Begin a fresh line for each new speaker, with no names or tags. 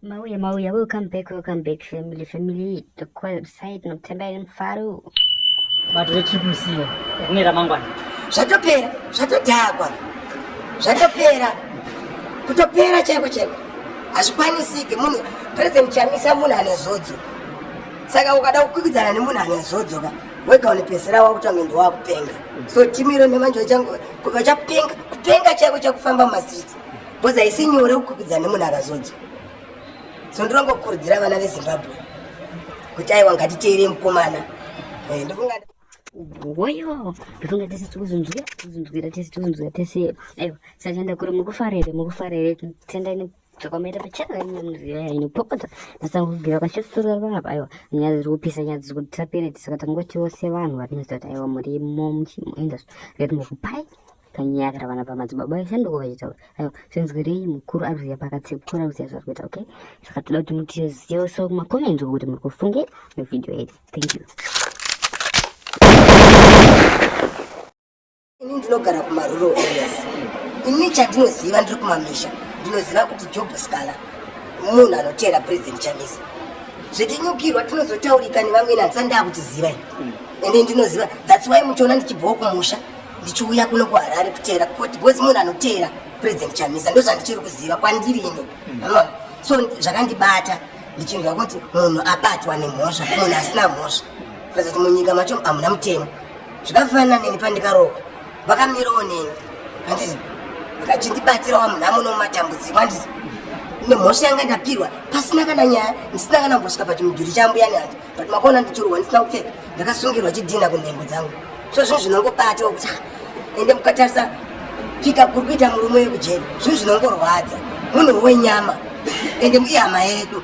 Mauya mauya welcome back welcome back family family tokwaya beside nokutamba iri mufaro bato rechipusiya rine ramangwana zvatopera zvatodhakwa zvatopera kutopera chaiko chaiko hazvikwanisike munhu president chamisa munhu ane zodzo saka ukada kukwikidzana nemunhu ane zodzo ka wega unopedzisira wakutanga ndo wakupenga so timu iro nemanje vachapenga kupenga chaiko chakufamba mumastreets bcoz haisi nyore kukwikwidzana nemunhu akazodzo so ndinongokurudzira vana vezimbabwe kuti aiwa ngatiteere mukomana eh, ndofunga woyo ndofunga tese tikuzunzwira tikuzunzwira tese tikuzunzwira tese aiwa sachanda kuri mukufarere mukufarere tendani takaomera pachana nyaya inopopota tasangobvira kwachitsutsura vanhu apa aiwa nyaya dziri kupisa nyaya dziri kuti tapere tisaka tangotiwo sevanhu vatinoziva kuti aiwa murimo muchimuenda zvekuti mukupai panyaya kana vana pamadzibaba eshe ndoko vachitaura aiwa zvinzwirei mukuru ari kuziva pakatsi mukuru ari kuziva zvari kuita okay saka toda kuti mutizive so makomenti okuti muri kufunge muvhidhiyo yedu thank you Ini ndinogara kumarural areas. Ini chandinoziva ndiri kumamisha. Ndinoziva kuti Job Scala munhu anoteera President Chamisa. Zvetinyukirwa tinozotaurika nevamweni asi ndaa kutiziva ini. Ende ndinoziva that's why muchiona ndichibvawo kumusha ndichiuya kuno kuHarare kuteera because munhu anoteera President Chamisa ndozvandichiri kuziva kwandiri ini. Unoona? So zvakandibata ndichinzwa kuti munhu abatwa nemhosva munhu asina mhosva. President munyika macho hamuna mutemo. zvakafanana neni pandikarohwa vakamirawo neni handizi vakachindibatsirawa munhu amuno mumatambudziko handizi nemhosva yanga ndapirwa pasina kana nyaya ndisina kana mbosvika pachimudhuri chambuyani hanzi but makaona ndichirohwa ndisina kupfeka ndakasungirwa chidhina kunhengo dzangu so zvinhu zvinongobatiwa kuti ende mukatarisa pika kuri kuita murume wekujeri zvinhu zvinongorwadza munhu wenyama ende ihama yedu